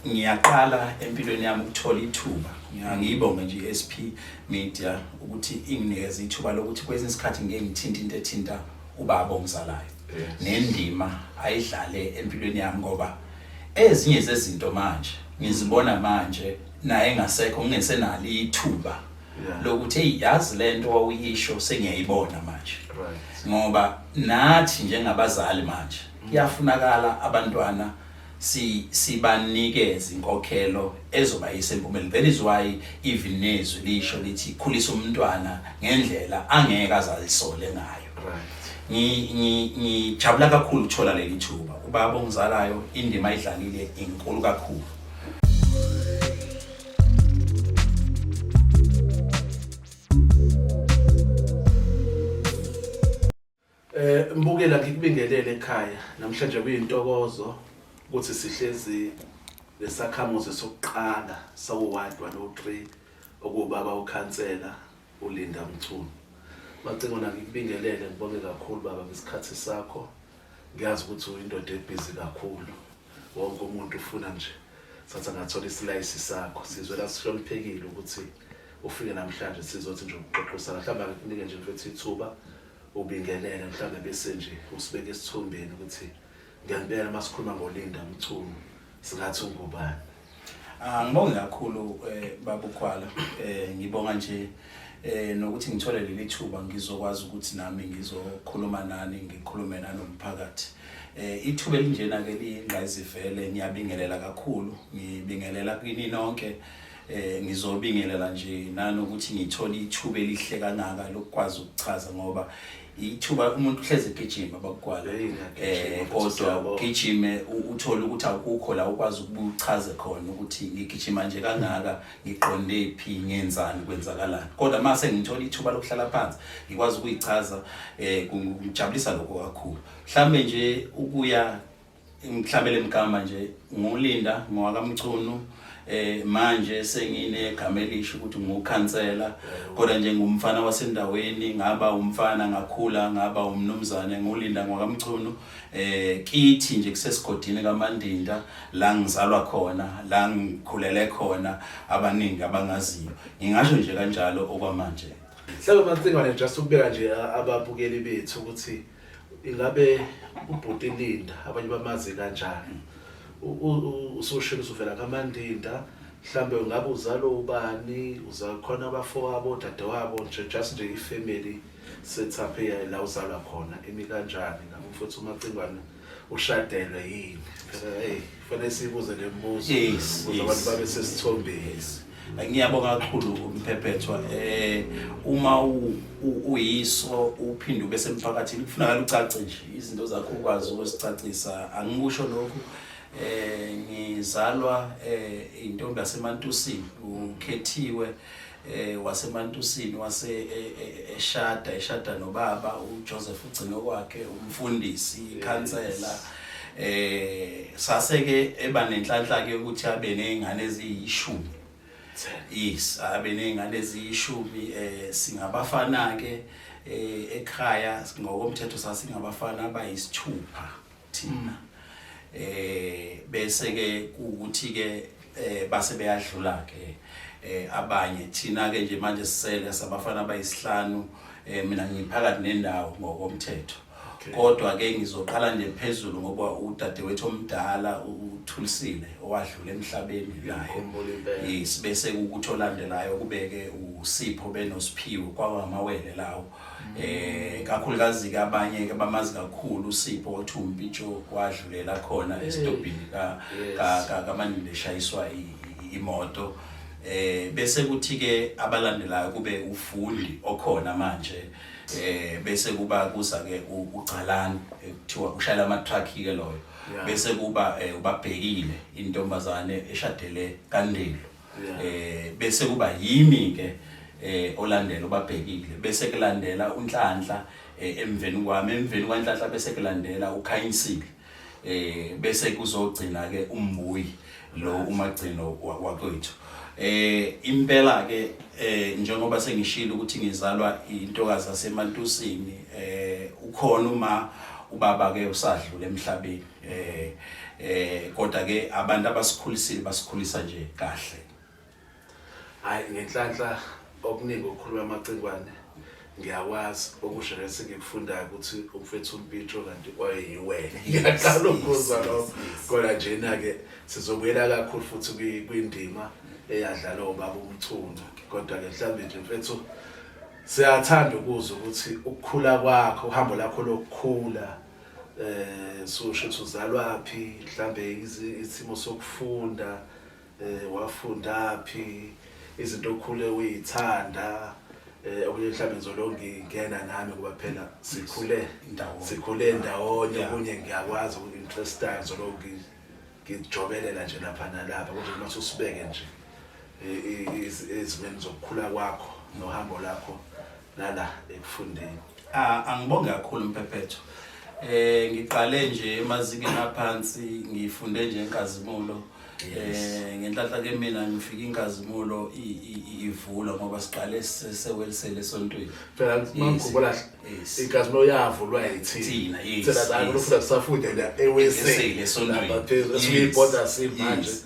ngiyaqala empilweni yami ukuthola ithuba ngiyibonge nje i-SP Media ukuthi inginikeza ithuba lokuthi kwesinye isikhathi ngeke ngithinte into ethinta ubaba omzalayo nendima ayidlale empilweni yami ngoba Ezinye zezinto manje ngizibona manje naye engasekho ngingesenalo ithuba Yeah. lokuthi hey yazi lento wawuyisho sengiyayibona manje Right. ngoba nathi njengabazali manje kuyafunakala abantwana si sibanikeze inkokhelo ezobayisa empumeleni that is why even nezwi lisho lithi khulisa umntwana ngendlela angeke azalisole ngayo ngijabula ngi, ngi kakhulu ukuthola leli thuba ubaba ongizalayo indima ayidlalile inkulu kakhulu Eh mbukela ngikubingelele ekhaya namhlanje kuyintokozo ukuthi sihlezi lesakhamuzi sokuqala sawu-1 103 okuwubaba ukhansela uLinda Mchunu. Macingwana ngikubingelele ngibonge kakhulu baba ngesikhathi sakho. Ngiyazi ukuthi uyindoda ebhizi kakhulu. Wonke umuntu ufuna nje sathi angathola isilayisi sakho. Sizwe la sihloniphekile ukuthi ufike namhlanje sizothi nje ukuxoxisana. Mhlawumbe akukunike nje mfethu ithuba ubingelele mhlawumbe bese nje usibeke esithombeni ukuthi ngempela masikhuluma ngoLinda Mchunu singathi ungubani. Ah, ngibonge kakhulu eh, babukhwala eh, ngibonga nje eh, nokuthi ngithole leli thuba ngizokwazi ukuthi nami ngizokhuluma nani ngikhulume nanomphakathi eh, ithuba elinjena ke liyingqayizivele ngiyabingelela kakhulu ngibingelela kini nonke eh, ngizobingelela nje nanokuthi ngithole ithuba elihle kangaka lokukwazi ukuchaza ngoba ithuba umuntu uhlezi egijima bakukwala eh kodwa ugijime uthole ukuthi akukho la ukwazi ukuchaze khona ukuthi ngigijima nje kangaka ngiqonde phi ngenzani kwenzakalani kodwa mase ngithola ithuba lokuhlala phansi ngikwazi ukuyichaza eh kujabulisa lokho kakhulu mhlambe nje ukuya ngihlabele mgama nje ngulinda ngowakamchunu eh manje senginegama elisho ukuthi ngukhansela kodwa nje ngumfana wasendaweni ngaba umfana ngakhula ngaba umnumzane ngulinda ngokamchunu eh kithi nje kusesigodini kamandinda la ngizalwa khona la ngikhulele khona abaningi abangaziyo ngingasho nje kanjalo okwamanje Hlelo mancingwane just ukubeka nje ababukeli bethu ukuthi ingabe ubhuti Linda abanye bamazi kanjani usushilo usuvela kamandinda mhlambe ungabe uzalo ubani uzakhona abafowabo dadewabo nje just nje ifamily setup eyayo la uzalwa khona imi kanjani ngabe mfowethu umacingwane ushadelwe yini phela hey Fanele sibuze le mibuzo Yes, ukuze yes. abantu babe sesithombeni. ngiyabonga kakhulu umphephethwa eh uma u- u- uyiso uphinde ube semphakathini kufunakala ucace nje izinto zakho ukwazi ukusicacisa angikusho lokhu eh ngizalwa eh intombi yasemantusini ukhethiwe eh waseMantusini wase e- e- eshada eshada nobaba uJoseph ugcino kwakhe umfundisi ikhansela eh sase ke eba nenhlanhla ke ukuthi abe nezingane eziyishumi yes abe nezingane eziyishumi eh singabafana ke eh ekhaya ngokomthetho sasingabafana abayisithupha thina eh bese ke ukuthi ke eh base beyadlula ke eh abanye thina ke nje manje sisele sabafana abayisihlanu eh mina ngiphakathi nendawo ngokomthetho kodwa ke ngizoqala nje phezulu ngoba udadewethu omdala uthulisile owadlula emhlabeni naye yes bese ukuthi olandelayo kubeke usipho benosiphiwo kwawamawele lawo eh kakhulukazi ke abanye ke bamazi kakhulu uSipho othi uMpijo wadlulela khona eh, esitobhini ka ka kamanile shayiswa imoto eh bese kuthi ke abalandelayo kube ufundi okhona manje eh bese kuba kuza ke uGcalani ekuthiwa ushayela ama truck ke loyo bese kuba eh, ubabhekile intombazane eshadele kandelo eh bese kuba yimi ke eh olandela ubabhekile bese kulandela unhlanhla eh, emveni kwami emveni kwanhlanhla bese kulandela ukhanyisile eh bese kuzogcina ke umbuyi lo umagcino wakwethu eh impela ke eh njengoba sengishilo ukuthi ngizalwa intokazi yasemantusini eh ukhona uma ubaba ke usadlule emhlabeni eh eh kodwa ke abantu abasikhulisile basikhulisa nje kahle hayi ngenhlanhla okuningi okukhuluma amacingwane ngiyakwazi okusho lesi ngikufundayo ukuthi umfethu umpitro kanti kwayeyiwena ngiyaqala ukubuza lokho kodwa njena-ke sizobuyela kakhulu futhi kwindima eyadlala obaba umthunga kodwa-ke mhlawumbe nje mfethu siyathanda ukuzwa ukuthi ukukhula kwakho uhambo lakho lokukhula eh sosho ukuthi uzalwaphi mhlambe isimo sokufunda eh wafundaphi izinto okhule uyithanda eh okunye mhlawumbe ngizolonge ngena nami kuba phela sikhule ndawonye sikhule ndawonye kunye ngiyakwazi ukuthi interest time ngizolonge ngijobelela nje lapha nalapha kodwa uma usibeke nje ezimeni zokukhula kwakho nohambo lakho nala ekufundeni. Ah, angibonge kakhulu Mphephetho. Eh ngiqale nje emazingeni aphansi ngifunde nje inkazimulo. Eh ngenhlanhla ke mina ngifika inkazimulo i- i- i- ivulwa ngoba siqale sesewelisele esontweni. Phela mangikhumbula Yes. inkazimulo yavulwa yithina. Thina, yes, Thina la yes. kulofuna sisafunde la Esele, eWeseli. esontweni. Lapha phezulu Yes, esibibhoda simanje. yes.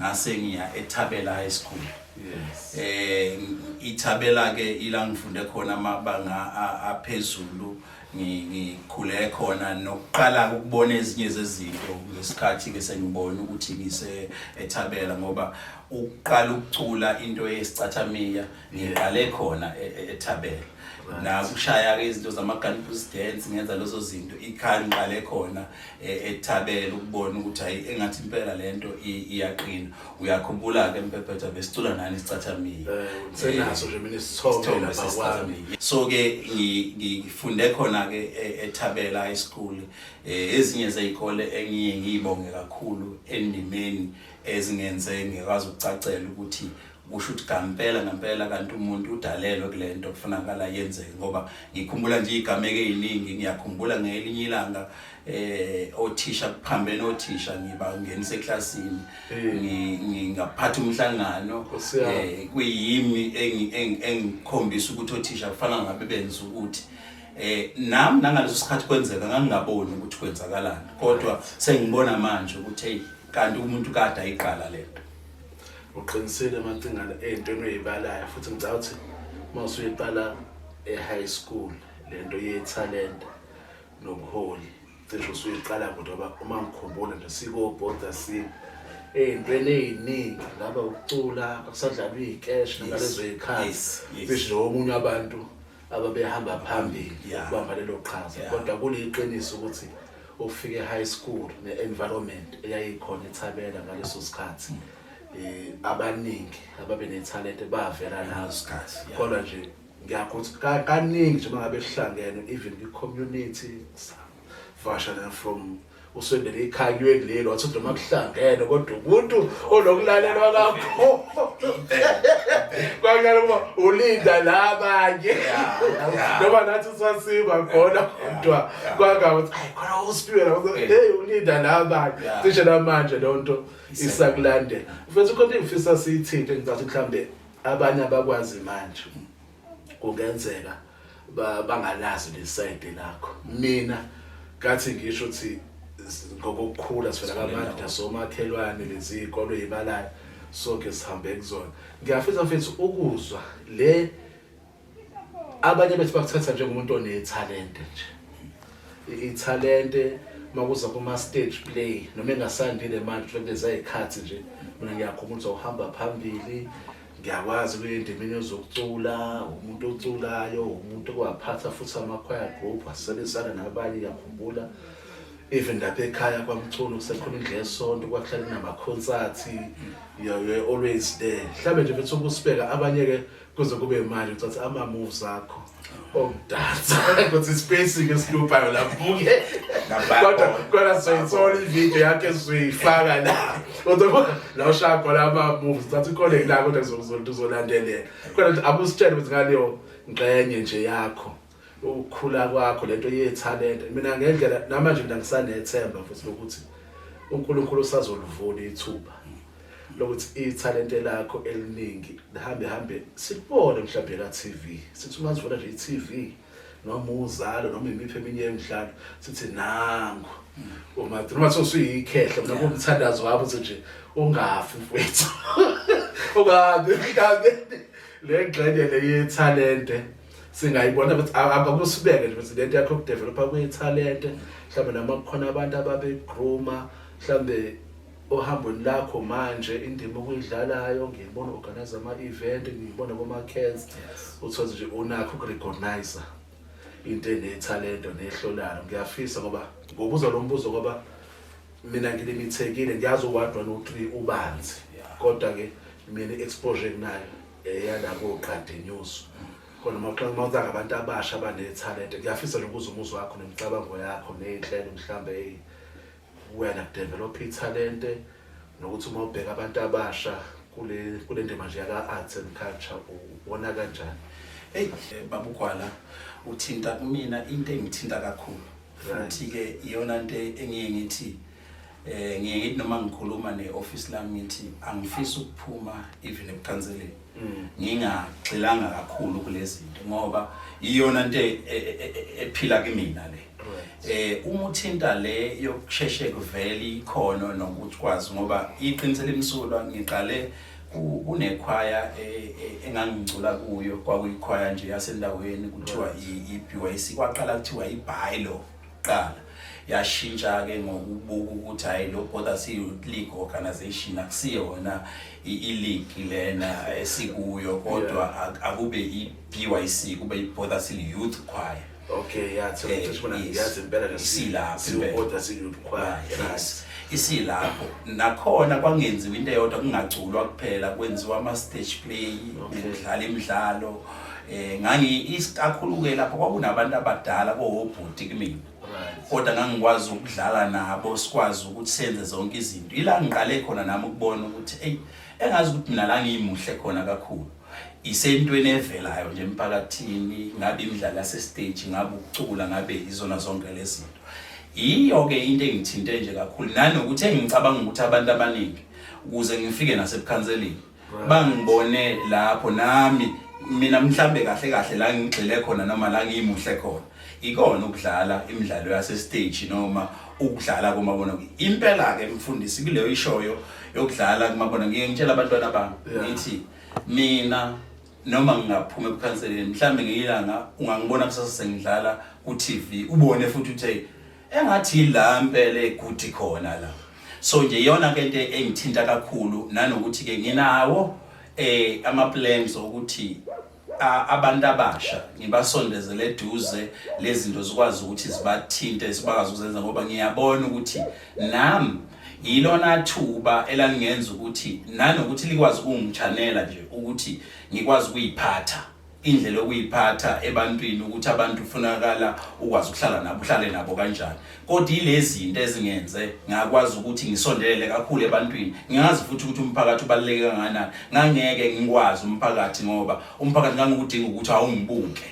ngase ngiya eThabela High School yes eh iThabela ke ila ngifunde khona amabanga aphezulu ngikhule khona nokuqala ukubona ezinye zezinto ngesikhathi ke sengibona ukuthi ngise eThabela ngoba ukuqala ukucula into yesicathamiya ngiqale khona e, e, eThabela nakushaya ke izinto zama campus dance ngenza lezo zinto ikhaya ngiqale khona e, ethabele ukubona ukuthi hayi engathi impela lento iyaqina uyakhumbula ke mpephetha besicula nani sicathamiye eh, senaso nje mina isithombe lapha kwami so ke ngifunde khona ke e, ethabela high school eh, ezinye zezikole engiye ngiyibonge kakhulu endimeni ezingenze ngikwazi ukucacela ukuthi kusho ukuthi ngampela ngampela kanti umuntu udalelwe kule nto kufunakala yenzeke ngoba ngikhumbula nje igameke eziningi ngiyakhumbula ngelinye ilanga eh othisha kuphambene othisha ngiba ngenise eclassini eh. ngingaphatha umhlangano eh kuyimi engikhombisa ukuthi othisha kufana ngabe benza ukuthi eh nami nangaleso sikhathi kwenzeka ngangingaboni ukuthi kwenzakalani kodwa sengibona manje ukuthi hey kanti umuntu kade ayiqala lento uqinisile macingana ey'ntweni oyibalayo futhi ngicaba ukuthi uma usuyiqala e-high school le nto yethalente nobuholi cishe usuyiqala kude ngoba uma ngikhumbula nje sikobhoda si ey'ntweni ey'ningi ngaba ukucula akusadlalwa iy'keshi nalezo y'khathi cishe nje omunye abantu ababehamba phambili Yeah. ukubamba lelo qhaza Yeah. kodwa kuliqiniso ukuthi ukufika e-high school ne-environment eyayikhona ethabela ngaleso sikhathi um abaningi ababe nethalente bavela nazo Isikhathi, yeah. kodwa nje ngiyakuthi ka- kaningi nje uma ngabe sihlangene even kwi-community vasha na from usondele ikhalwe kuleli wathi uthi noma kuhlangene kodwa umuntu onokulalelwa kakho kwakuyala ukuba ulinda labanye noma nathi sasiba khona kodwa kwangaba ukuthi ayi khona usipiwe lapho hey ulinda labanye cishe namanje leyo nto isakulandela mfethu khona engifisa siyithinte ngicathi mhlawumbe abanye abakwazi manje kungenzeka bangalazi lesayide lakho mina kathi ngisho ukuthi ngokukhula sivela kamandla somakhelwane lezi ikolo yibalayo sonke sihambe kuzona ngiyafisa mfethu ukuzwa le abanye bethu bakuthatha njengomuntu onethalente nje ithalente makuza kuma stage play noma engasandile manje kulezi ayikhathi nje mina ngiyakhumbula uhamba phambili ngiyakwazi kuye endimeni yozokucula umuntu oculayo umuntu owaphatha futhi amakhwaya group asebenzisana nabanye ngiyakhumbula even lapha ekhaya kwamculo kusekhona indlela yesonto kwakuhlale kunamakhonsathi you're always there mhlawumbe nje mfethu ukusibeka abanye-ke kuze kube imali ucathi ama-moves akho ukudansa kodwa ispacing esiluphayo labuke kodwa kodwa soyithola ivideo yakhe soyifaka la kodwa la ushaya khona ama-moves thatha ikhole la kodwa kuzokuzothi uzolandelela kodwa ukuthi abusitshele ukuthi ngaleyo ngxenye nje yakho ukukhula kwakho lento yethalente mina ngendlela namanje mina ngisanethemba futhi lokuthi uNkulunkulu usazolivula ithuba lokuthi ithalente lakho eliningi lihambe hambe sikubone mhlawumbe ka TV sithi uma sivona nje iTV noma uzalo noma imiphi eminye yemidlalo sithi nangu uma noma sosuyikhehla noma umthandazo wabo nje ungafi mfethu ungabi ungabi le ngxenye le yethalente singayibona ukuthi akusibeke nje ukuthi lento yakho kudevelopa kuyithalente mhlawumbe noma kukhona abantu ababegroomer mhlawumbe Ohambweni lakho manje indima okuyidlalayo ngiyibona organize ama event ngiyibona kuma cans uthola nje unakho ukurecognize into enethalento nehlolayo ngiyafisa ngoba ngobuza lo mbuzo ngoba mina ngilimithekile ngiyazi uwadwa no 3 ubanzi kodwa ke mina exposure kunayo eyalabo eh, qadi news khona maqala mawuza ngabantu abasha abanethalente ngiyafisa nje ukuza umuzwa wakho nemicabango yakho nezinhlelo mhlambe wena develop ithalente nokuthi uma ubheka abantu abasha kule kule ndima nje yaka arts and culture ubona kanjani hey eh, babugwala uthinta kumina into engithinta kakhulu futhi ke iyona into engiye ngithi eh ngiye ngithi noma ngikhuluma ne office lami ngithi angifisi ukuphuma even ebukhanseleni mm. ngingagxilanga kakhulu kulezinto ngoba iyona into e, e, e, ephila kimina le eh uma uthinta le yokusheshe kuvele ikhono nokuthi kwazi ngoba iqiniso limsulwa ngiqale kunekhwaya engangicula kuyo kwakuyikhwaya nje yasendaweni kuthiwa i-BYC kwaqala kuthiwa i-Bilo kuqala yashintsha-ke ngokubuka ukuthi hhayi lo bother siyi-league organization akusiye wona i-league lena esikuyo kodwa akube i-b y c kube i-bother siyi-youth choir okay ya yazi impela nesiwukodwa siyi-youth choir isilapho nakhona kwangenziwa into eyodwa kungaculwa kuphela kwenziwa ama-stage play kudlala imidlalo okay. eh ngangi isikakhuluke lapho kwakunabantu abadala kohobhuti kimi kodwa ngangikwazi ukudlala nabo sikwazi ukuthi senze zonke izinto ila ngiqale khona nami ukubona ukuthi hey engazi ukuthi mina la ngiyimuhle khona kakhulu isentweni evelayo nje emphakathini ngabe imidlalo yasestage ngabe ukucula ngabe izona zonke lezinto yiyo-ke into engithinte nje kakhulu nanokuthi engicabanga ukuthi abantu abaningi ukuze ngifike nasebukhanseleni bangibone lapho nami mina mhlambe kahle kahle la ngigxile khona noma la ngiyimuhle khona ikona ukudlala imidlalo yase stage noma ukudlala komabona impela ke mfundisi kuleyo ishoyo yokudlala kumabona ngiye ngitshela abantwana bami ngithi mina noma ngingaphuma ebukhanseleni mhlambe ngiyilanga ungangibona kusasa sengidlala ku TV ubone futhi uthe engathi la mpele kuthi khona la so nje yona ke into engithinta kakhulu nanokuthi ke nginawo eh ama plans okuthi abantu abasha ngibasondezele eduze lezinto zikwazi ukuthi zibathinte sibakwazi ukuzenza ngoba ngiyabona ukuthi nami yilona thuba elangenza ukuthi nanokuthi likwazi ukungichanela nje ukuthi ngikwazi ukuyiphatha indlela okuyiphatha ebantwini ukuthi abantu ufunakala ukwazi ukuhlala nabo uhlale nabo kanjani kodwa ilezi zinto ezingenze ngakwazi ukuthi ngisondelele kakhulu ebantwini ngingazi futhi ukuthi umphakathi ubaluleke kangakanani ngangeke ngikwazi umphakathi ngoba umphakathi ngangikudinga ukuthi awungibuke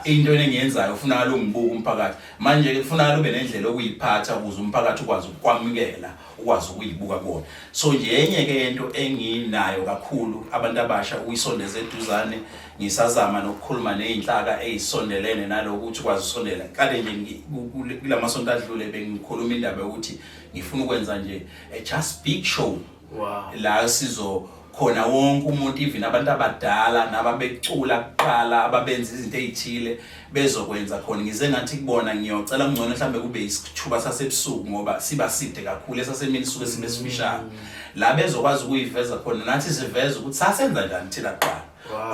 into engiyenzayo ufunakala ungibuke umphakathi manje kufunakala ube nendlela okuyiphatha ukuze umphakathi ukwazi ukukwamukela ukwazi ukuyibuka kuona so nje enye ke into enginayo kakhulu abantu abasha ukuyisondeza eduzane ngisazama nokukhuluma nezinhlaka ezisondelene naloko ukuthi kwazi usondela kade nje kulamasonto adlule bengikhuluma indaba ukuthi ngifuna ukwenza nje a just big show wow la sizo khona wonke umuntu even abantu abadala nababecula kuqala ababenza izinto ezithile bezokwenza khona ngize ngathi kubona ngiyocela kungcono mhlambe kube isithuba sasebusuku ngoba siba side kakhulu esasemini suke sibe sifishane la bezokwazi ukuyiveza khona nathi siveza ukuthi sasenza njani thina kuqala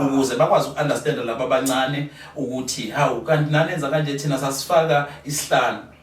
ukuze bakwazi ukunderstanda laba abancane ukuthi hawu kanti nanenza kanje thina sasifaka isihlanu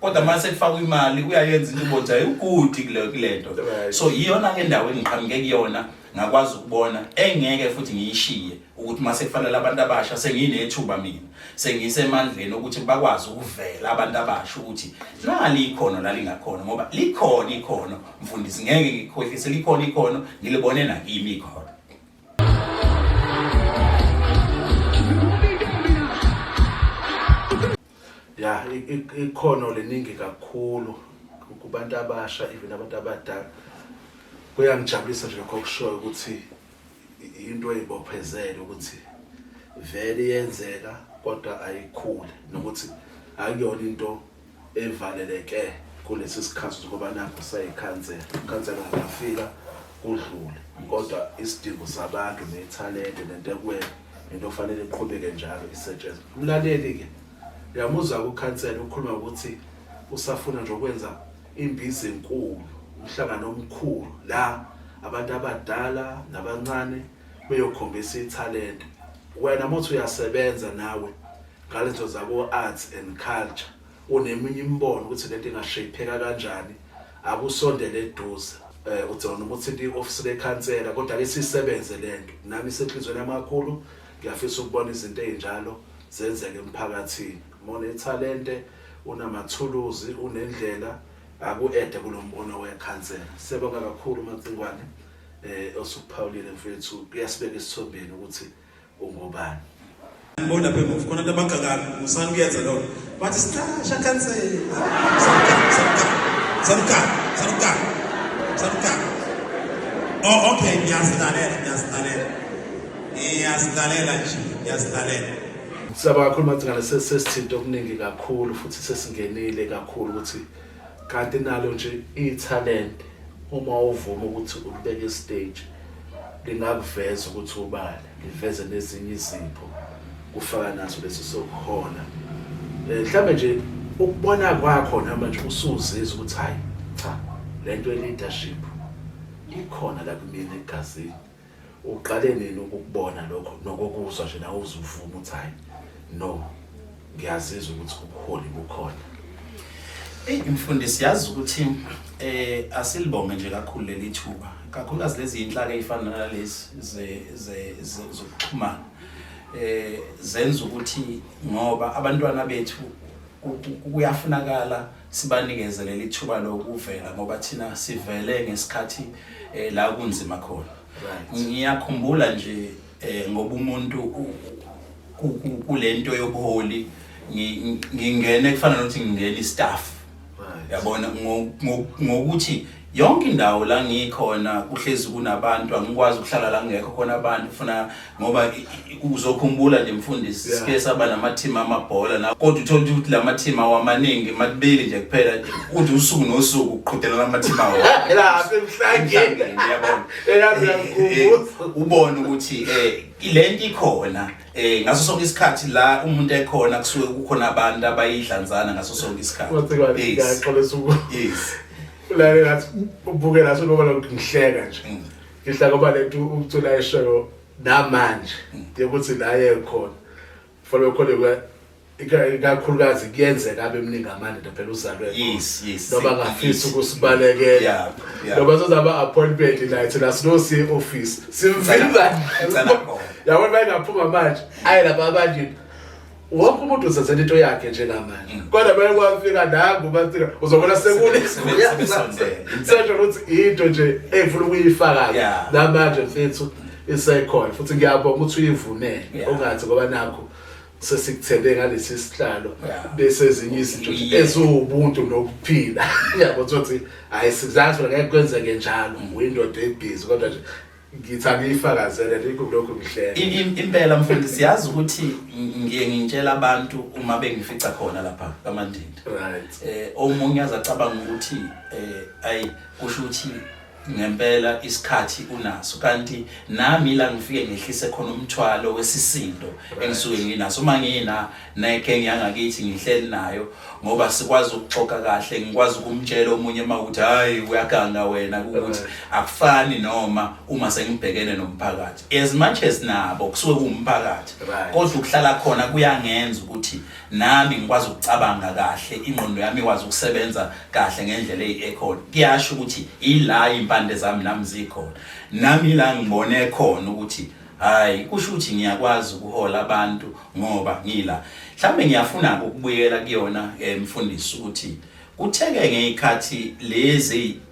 kodwa mase kufaka imali uyayenza into ubonza ugudi kule kulento so iyona ke ndawo engiqhamuke kuyona ngakwazi ukubona engeke futhi ngiyishiye ukuthi mase kufanele abantu abasha senginethuba mina sengisemandleni ukuthi bakwazi ukuvela abantu abasha ukuthi nali ikhono lalingakhona ngoba likhona ikhono mfundisi ngeke ngikhohlise likhona ikhono ngilibone nakimi ikhono ya ikhono liningi kakhulu kubantu abasha even abantu abadala kuyangijabulisa nje lokho kushoyo ukuthi into eyibophezele ukuthi vele yenzeka kodwa ayikhule nokuthi akuyona into evaleleke kulesi sikhathi ngoba nakho sayikhansela ikhansela ngafika kudlule kodwa isidingo sabantu nethalente nento ekwena into kufanele iqhubeke njalo isetshenzwe umlaleli ke uyamuzwa kukhansela ukhuluma ukuthi usafuna nje ukwenza imbizi enkulu umhlangano omkhulu la abantu abadala nabancane beyokhombisa ithalente wena mothi uyasebenza nawe ngalezo zabo arts and culture uneminye imibono ukuthi lento ingashayipheka kanjani akusondele eduze eh udzona uma uthinta i-ofisi lekhansela kodwa ke sisebenze lento nami isenhlizweni yamakhulu ngiyafisa ukubona izinto ezinjalo zenzeke emphakathini mona ithalente unamathuluzi unendlela aku-ede kulo mbono wekhansela siyabonga kakhulu macingwane eh osukuphawulile mfethu kuyasibeka esithombeni ukuthi ungobani ngibona lapha emuva khona abantu abagxakayo musani kuyenza lokho bathi siqasha khansela saluka saluka saluka oh okay ngiyazilalela ngiyazilalela ngiyazilalela nje ngiyazilalela siyaba kakhulu macingane sesithinto okuningi kakhulu futhi sesingenile kakhulu ukuthi kanti nalo nje ithalente uma uvuma ukuthi ulibeke estage lingakuveza ukuthi ubani liveze nezinye izipho kufaka naso lesi sokuhola eh, mhlawumbe nje ukubona kwakho namanje usuzizwa ukuthi hayi cha lento ye leadership ikhona la kumina egazini uqale nini ukukubona lokho nokokuzwa nje nawe uzuvuma ukuthi hayi no ngiyazizwa ukuthi ubuholi bukhona eyi mfundisi yazi ukuthi um asilibonge nje kakhulu leli thuba kakhulukazi lezi yinhlaka ey'fana nalezi zokuxhumana um zenza ukuthi ngoba abantwana bethu kuyafunakala sibanikeze leli thuba lokuvela ngoba thina sivele ngesikhathi eh, la kunzima khona ngiyakhumbula nje eh, ngoba umuntu kulento yobuholi ngingene kufana nokuthi ngingena istaff yabona ngokuthi yonke indawo la ngikhona kuhlezi kunabantu angikwazi ukuhlala la ngekho khona abantu funa ngoba uzokhumbula nje mfundisi yeah. sike saba namathima amabhola na kodwa uthole ukuthi la mathima wamaningi makubili nje kuphela nje uthi usuku nosuku uqhudelana amathima wawo la semhlangeni yabona eh, eh, ubone ukuthi eh lento ikhona eh ngaso sonke isikhathi la umuntu ekhona kusuke kukhona abantu abayidlanzana ngaso sonke isikhathi yes yes la ngathi ubuke la sokuba ngihleka nje mm. ngihla ngoba lethu ukucula eshoyo namanje mm. ukuthi la yekhona fanele khona ikakhulukazi kuyenzeka abe mningi amandoda phela uzalwe yes yes noma ngafisa ukusibalekela noma sozaba appointment night la sino si office simvimba yabona bayengaphuma manje ayi laba abanje wonke umuntu uzenzela into yakhe njengamanje mm. kodwa bayekwafika nangu bathina uzobona sekuni sesho ukuthi into nje engifuna ukuyifaka namanje mfethu isekhona futhi ngiyabonga ukuthi uyivunele ungathi ngoba nakho sesikuthembe ngalesi sihlalo bese ezinye izinto eziwubuntu nokuphila yabo ukuthi hayi sizazi wena ngeke kwenzeke njalo mm. uyindoda ebhizi kodwa nje ngithi angiyifakazele likho lokho ngihlela impela mfundi siyazi ukuthi ngiye ngintshela abantu uma bengifica khona lapha kamandindi right eh omunye azacabanga ukuthi eh ayi kusho ukuthi ngempela isikhathi unaso kanti nami la ngifike ngehlise khona umthwalo wesisindo engisuke nginaso uma ngina neke ngiyangakithi ngihleli nayo ngoba sikwazi ukuxoxa kahle ngikwazi ukumtshela omunye uma ukuthi hayi uyaganga wena ukuthi akufani noma uma sengibhekene nomphakathi as much as nabo kusuke kuwumphakathi kodwa ukuhlala khona kuyangenza ukuthi Nami ngikwazi ukucabanga kahle, ingqondo yami ikwazi ukusebenza kahle ngendlela eyi-ekhona. Kuyasho ukuthi ila iy'mpande zami nami zikhona. Nami ila ngibone khona ukuthi hhayi kusho ukuthi ngiyakwazi ukuhola abantu ngoba ngila. Mhlawumbe ngiyafuna-ke ukubuyela kuyona um mfundisi ukuthi kutheke ngey'khathi lezi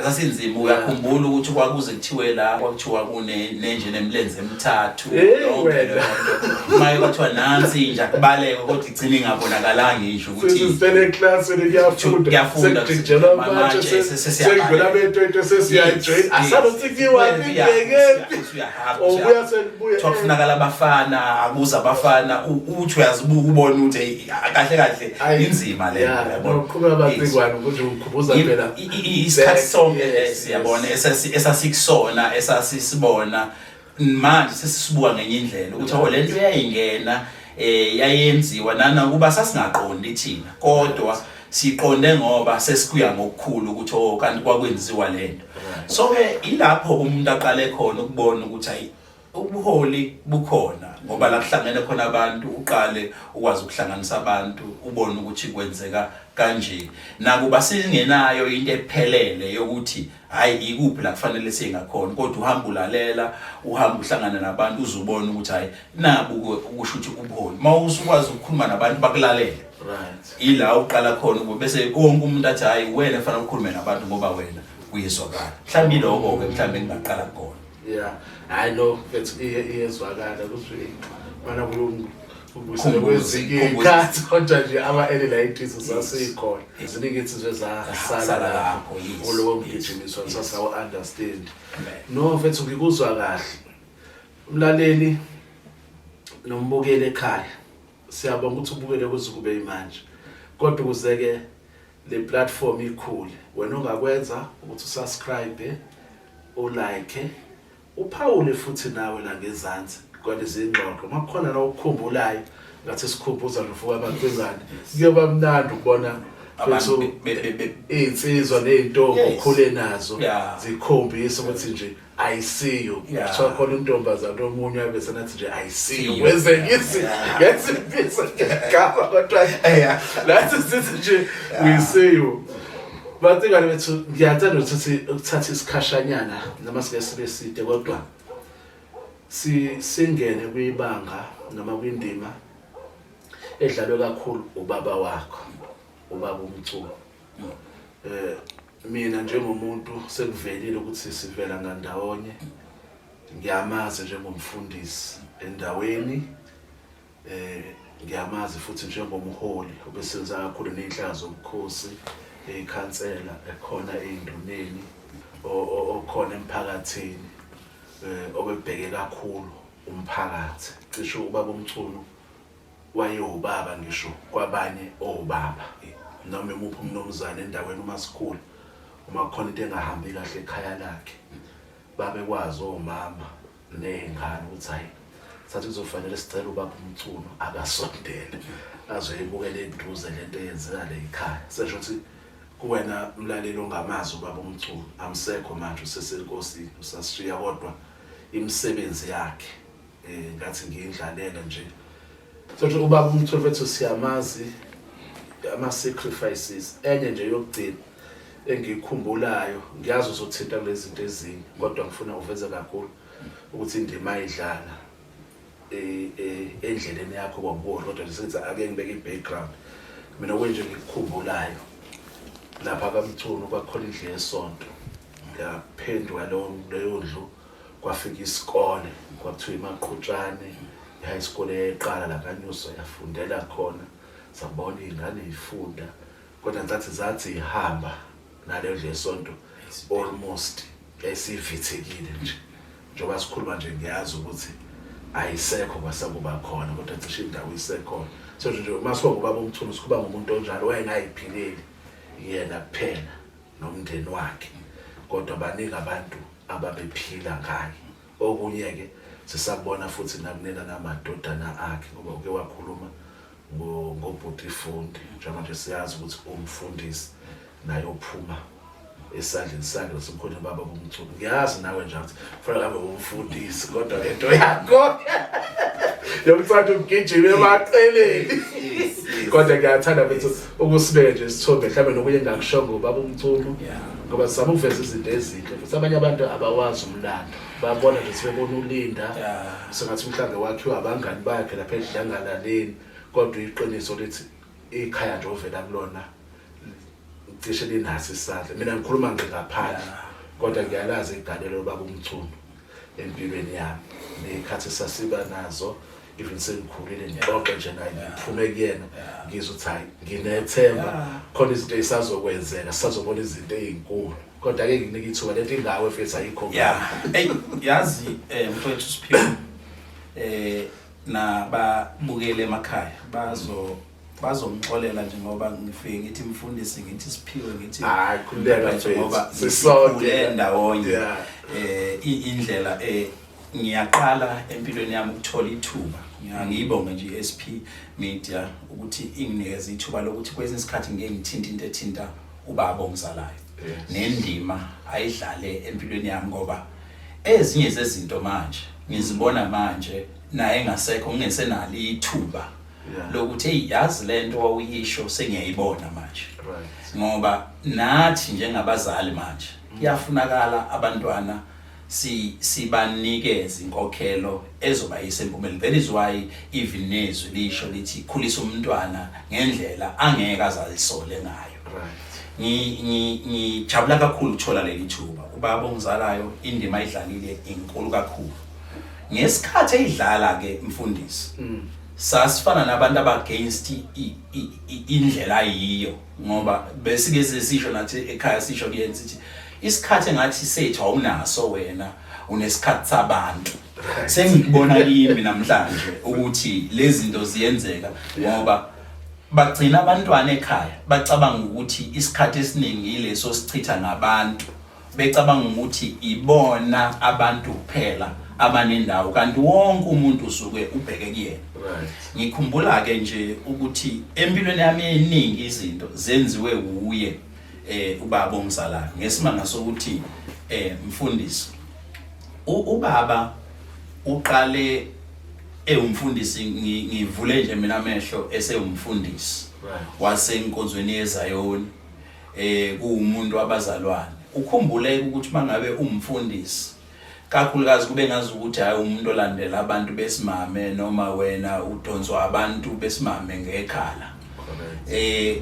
esasinzima uyakhumbula ukuthi kwakuze kuthiwe la kwakuthiwa kunenje nemlenze emithathu yonke leyo nto maye kwathiwa nansi inja kubaleke kodwa igcina ingabonakalanga inje ukuthi sisele class kuyafunda kuyafunda sijela manje sesiyakhala bento into sesiyajoin asalothikiwa bibeke ubuya selibuya kwakufunakala abafana akuza abafana uthi uyazibuka ubona ukuthi kahle kahle inzima le yabo uqhubeka bazikwani ukuthi ukhumbuza phela isikhathi sonke lesi yabona esasikusona esasisibona manje sesisibuka ngenye indlela ukuthi awu lento yayingena eh yayenziwa nana kuba sasingaqondi thina kodwa siqonde ngoba sesikuya ngokukhulu ukuthi oh kanti kwakwenziwa lento so ke ilapho umuntu aqale khona ukubona ukuthi ayi ubuholi bukhona ngoba la kuhlangene khona abantu uqale ukwazi ukuhlanganisa abantu ubone ukuthi kwenzeka kanje nakuba singenayo into ephelele yokuthi hayi ikuphi la kufanele singakhona kodwa uhamba ulalela uhamba uhlangana nabantu uzubona ukuthi hayi nabu ukusho ukuthi ubuholi mawusukwazi ukukhuluma nabantu bakulalele right ila uqala khona ukuthi bese konke umuntu athi hayi wena fanele ukhulume nabantu ngoba wena uyezwakala mhlawumbe lokho ke mhlawumbe ngingaqala khona Yeah. I know it's iyezwakala ukuthi mana kulungu ubusele kwezikhathi kodwa nje ama elilayitis zasikhona. Ziningi insizwe zasala lapho. Ulowo mgijimiswa sasa u understand. No mfethu ngikuzwa kahle. Umlaleli nombukeli ekhaya. Siyabonga ukuthi ubukele kuze kube imanje. Kodwa ukuze ke le platform ikhule wena ongakwenza ukuthi usubscribe ulike uphawule futhi nawe la ngezansi kwalezi ngxoxo uma kukhona la ukukhumbulayo ngathi sikhumbuza nofuka abantu bezani kuyoba mnandi ukubona abantu insizwa nezintombi okhule nazo zikhombisa ukuthi nje I see you. Yeah. So khona intombazana omunye abe senathi nje I see you. Wenze ngisi ngesi pizza ngaba kodwa yeah. Lathi sithi nje we see you. But ingane bethu ngiyathanda ukuthi ukuthatha isikhashanyana noma sike sibe side kodwa si singene kwibanga noma kwindima edlalwe kakhulu ubaba wakho ubaba umculo. Mm. Eh Mina njengomuntu sekuvelile ukuthi sivela ngandawonye ngiyamazi njengomfundisi endaweni eh ngiyamazi futhi njengomholi obesenza kakhulu nenhlaka zobukhosi ekhansela ekhona enduneni okhona emphakathini eh, obebheke kakhulu umphakathi cisho ubaba umchunu wayewubaba ngisho kwabanye obaba noma imuphi umnumzane endaweni uma sikhula uma kukhona into engahambi kahle ekhaya lakhe babekwazi omama ney'ngane ukuthi hhayi sathi kuzofanele sicela ubaba umculo akasondele azoyibukela eduze le nto eyenzeka le yikhaya sesho ukuthi kuwena mlaleli ongamazi ubaba umculo amsekho manje usesenkosini usasishiya kodwa imisebenzi yakhe um ngathi ngiyindlalela nje sothi ubaba umtholi wethu siyamazi ama-sacrifices enye nje yokugcina engiyikhumbulayo ngiyazi uzothinta kule zinto ezinye kodwa ngifuna uveze kakhulu ukuthi indima ayidlala e, e, endleleni yakho kwakubola kodwa ngisenza ake ngibeke i-background mina kwenje ngikukhumbulayo lapha kamchunu kwakhona indlu yesonto ngaphendwa leyo ndlu kwafika isikole kwakuthiwa imaqhutshane i-high school eyayiqala la kanyuso yafundela khona sabona iy'ngane yifunda kodwa ngicathi zathi ihamba naleyo ndlela esonto almost yayisivithekile nje njengoba sikhuluma nje ngiyazi ukuthi ayisekho kwasakuba khona kodwa cishe indawo isekhona so nje uma siba ngubaba omthulu sikuba ngumuntu onjalo wayengayiphileli yena kuphela nomndeni wakhe kodwa baningi abantu ababephila ngaye okunye-ke sisakubona futhi nakunela namadodana akhe ngoba uke wakhuluma ngobhuti ifundi njengamanje siyazi ukuthi umfundisi naye uphuma esandleni sakhe nasemkhoneni ubaba bomculo ngiyazi nawe nje ukuthi fanele ngabe umfundisi kodwa lento yakho yomfana umgijima emaqeleni kodwa ngiyathanda bethu ukusibeke nje isithombe mhlawumbe nokunye engakushongo ubaba umculo ngoba sizama ukuveza izinto ezinhle futhi abanye abantu abawazi umlando babona nje sebebona ulinda sengathi mhlawumbe wakhiwa abangani bakhe lapha edlangalaleni kodwa iqiniso lithi ikhaya nje ovela kulona cishe linaso isandla mina ngikhuluma nje ngaphandle kodwa ngiyalazi igalelo baba umchunu empilweni yami ney'khathi sasiba nazo even sengikhulile ngiyaxoxa nje naye ngiphume kuyena ngizwe ukuthi hhayi nginethemba khona izinto ey'sazokwenzeka sisazobona izinto ey'nkulu kodwa ke nginika ithuba le nto ingawe fethu ayikho ya eyi yazi um mfowethu siphiwe um nababukeli emakhaya bazo bazongixolela nje ngoba ngifike ngithi mfundisi ngithi siphiwe ngithi hayi khuleka nje ngoba sisonke endawonye eh indlela eh ngiyaqala empilweni yami ukuthola ithuba ngiyibonge nje i-SP Media ukuthi inginikeza ithuba lokuthi kwesinye isikhathi ngeke ngithinte into ethinta ubaba ongizalayo nendima ayidlale empilweni yami ngoba ezinye zezinto manje ngizibona manje naye ngasekho ngingesenalo ithuba lokuthi hey yazi lento wawuyisho sengiyayibona manje ngoba nathi njengabazali manje mm. kuyafunakala abantwana si sibanikeze inkokhelo ezoba isempumeleni that is why even nezwi lisho lithi khulisa umntwana ngendlela angeke azalisole ngayo ngijabula kakhulu ukuthola leli thuba ubaba ongizalayo indima idlalile inkulu kakhulu Ngesikhathi eyidlala ke mfundisi mm. sasifana nabantu abagainst indlela yiyo ngoba besike sisisho nathi ekhaya sisho kuyenza ukuthi isikhathi engathi sethu awunaso wena unesikhathi sabantu sengikubona kimi namhlanje ukuthi lezi zinto ziyenzeka ngoba bagcina abantwana ekhaya bacabanga ukuthi isikhathi esiningi yileso sichitha ngabantu becabanga ukuthi ibona abantu kuphela abanendawo kanti wonke umuntu usuke ubheke kuyena ngikhumbula ke nje ukuthi empilweni yami eningi izinto zenziwe wuye eh ubaba omzalayo ngesimanga sokuthi eh mfundisi ubaba uqale ewumfundisi ngivule nje mina amehlo esewumfundisi wasenkonzweni yeZayoni eh kuwumuntu wabazalwane ukhumbule ukuthi mangabe umfundisi kakhulukazi kube ngazi ukuthi hayi umuntu olandela abantu besimame noma wena udonswa abantu besimame ngekhala eh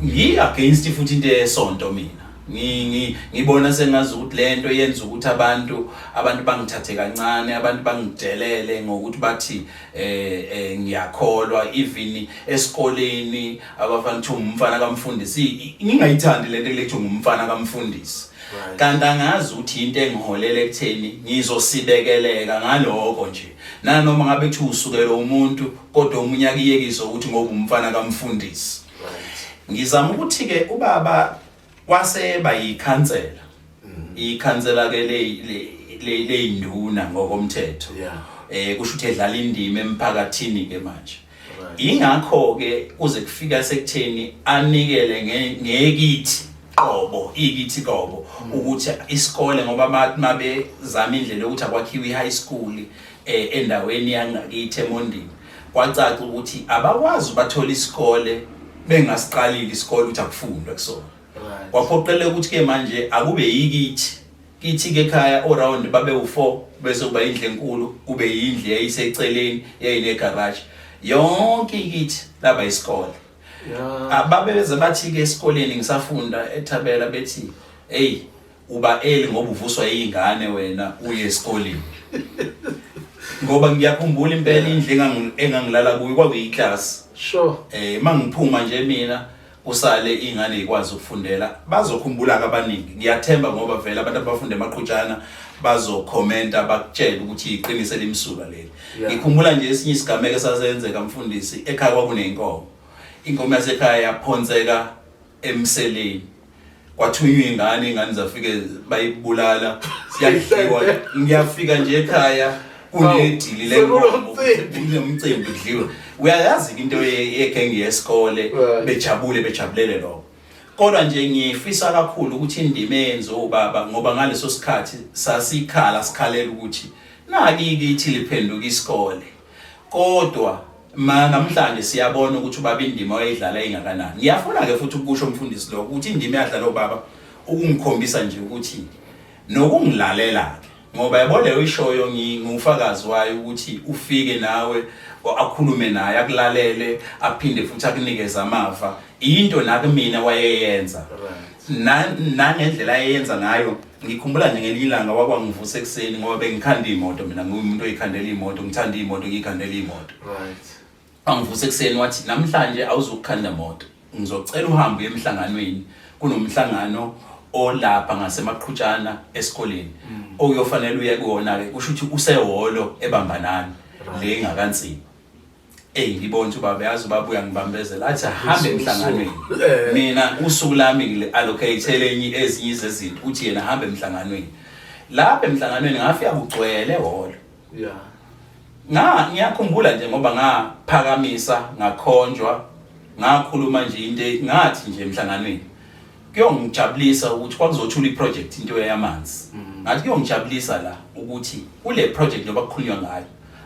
ngi against futhi into esonto mina ngibona sengazi ukuthi lento yenza ukuthi abantu abantu bangithathe kancane abantu bangidelele ngokuthi bathi eh, eh ngiyakholwa even esikoleni abafana kuthiwa ngumfana kamfundisi ngingayithandi le nto kulethiwa ngumfana kamfundisi kanti angazi ukuthi yinto engiholela ekutheni ngizosibekeleka ngaloko nje nanoma ngabe kuthiwa usukelwe umuntu kodwa omunye akuyekise ukuthi ngoba umfana kamfundisi ngizama ukuthi-ke ubaba Kwaseba yikhansela. Mm. Ikhansela ke le le leyinduna ngokomthetho. Yeah. Eh kusho ukuthi edlala indima emphakathini ke manje. Ingakho ke kuze kufika sekutheni anikele ngekithi qobo ikithi qobo mm. ukuthi isikole ngoba mabe zama indlela ukuthi akwakhiwe i-high school eh, endaweni yangakithi eMondini kwacaca ukuthi abakwazi bathola isikole bengasiqalile isikole ukuthi akufundwe kusona kwaphoqeleka ukuthi ke manje akube yikithi kithi ke ekhaya oround babe u4 bese kuba indle enkulu kube yindle eyiseceleni yayine garage yonke ikithi laba isikole ababeze bathi ke esikoleni ngisafunda ethabela bethi hey uba eli ngoba uvuswa iy'ngane wena uye esikoleni ngoba ngiyakhumbula impela indlu engangi- engangilala kuyo kwakuyiklasi sure eh uma ngiphuma nje mina kusale ingane ikwazi ukufundela bazokhumbula ke abaningi ngiyathemba ngoba vele abantu abafunda emaqhutshana bazokhomenta bakutshele ukuthi iqiniso elimsulwa leli Yeah. ngikhumbula nje esinye isigameko esasenzeka mfundisi ekhaya kwakuneyinkomo inkomo yasekhaya yaphonseka emseleni kwathunywa ingane ingane zafike bayibulala siyadliwa ngiyafika nje ekhaya kunedili lenkomo kunomcimbi kudliwe uyayazi into yegenge yesikole bejabule bejabulele lokho kodwa nje ngifisa kakhulu ukuthi indima eyenze ubaba ngoba ngaleso sikhathi sasikhala sikhalela ukuthi naki kithi liphenduka isikole Kodwa ma namhlanje siyabona ukuthi ubaba indima wayidlala ingakanani. Ngiyafuna ke futhi ukusho umfundisi lo ukuthi indima yadlala ubaba ukungikhombisa nje ukuthi nokungilalela ke ngoba yabo leyo ishoyo ngingufakazi wayo ukuthi ufike nawe akhulume naye akulalele aphinde futhi akunikeze amava into nakumina wayeyenza nangendlela ayeyenza ngayo Ngikhumbula nje ngelinye ilanga wakwangivusa ekuseni ngoba bengikhanda imoto mina ngiwumuntu oyikhandela imoto ngithanda imoto ngiyikhandela imoto right angivusa ekuseni wathi namhlanje awuzukukhanda moto ngizocela uhambe emhlanganweni kunomhlangano olapha ngasemaqhutshana esikoleni mm. okuyofanele uye kuwona ke kusho ukuthi useholo ebambanani le ngakanzima Ey ngibonje ubaba yazi ubaba uyangibambezela athi ahambe emhlanganweni Eh. mina usuku lami ngile allocate lenye ezinye izezinto uthi yena ahambe emhlanganweni lapha emhlanganweni ngafika kugcwele holo Yeah. nga ngiyakhumbula nje ngoba ngaphakamisa ngakhonjwa ngakhuluma nje into e- ngathi nje emhlanganweni kuyongijabulisa ukuthi kwakuzothula iproject into yamanzi ngathi kuyongijabulisa la ukuthi kule project njengoba kukhulunywa ngayo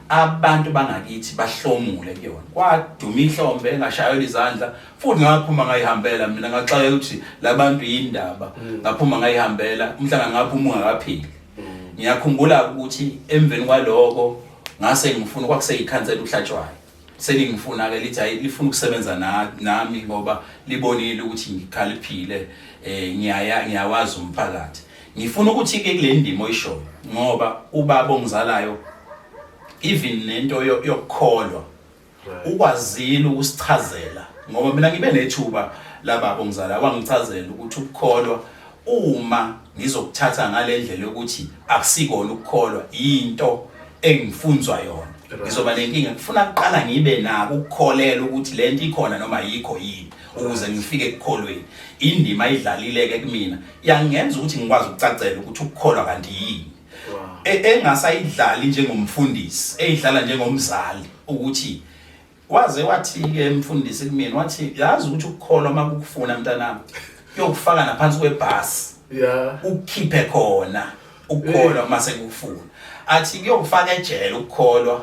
abantu bangakithi bahlomule kuyona kwaduma ihlombe engashayela izandla futhi ngaphuma ngayihambela mina ngaxaka ukuthi labantu yindaba mm. ngaphuma ngayihambela umhlanga ngaphuma ungakaphili mm. ngiyakhumbula ukuthi emveni kwaloko ngase ngifuna kwakuseyikhansela uhlatshwayo selingifuna-ke lithi hayi lifuna ukusebenza nami ngoba libonile ukuthi ngikhaliphile um ngiyawazi umphakathi ngifuna ukuthi-ke kule ndima oyishoyo ngoba ubaba ongizalayo even nento yokukholwa ukwazile ukusichazela ngoba mina ngibe nethuba lababa ongizalayo wangichazela ukuthi ukukholwa Uma ngizokuthatha ngale ndlela yokuthi akusikona ukukholwa yinto engifunzwa yona ngizoba nenkinga ngifuna kuqala ngibe nako ukukholela ukuthi le nto ikhona noma yikho yini ukuze ngifike ekukholweni indima ayidlalile-ke kumina yangenza ukuthi ngikwazi ukucacela ukuthi ukukholwa kanti yini e, engasayidlali njengomfundisi eyidlala njengomzali ukuthi Waze wathi-ke mfundisi kumina wathi yazi ukuthi ukukholwa uma kukufuna mntanami kuyokufaka naphansi kwebhasi ya ukukhiphe khona ukukholwa uma sekukufuna athi kuyokufaka ejele ukukholwa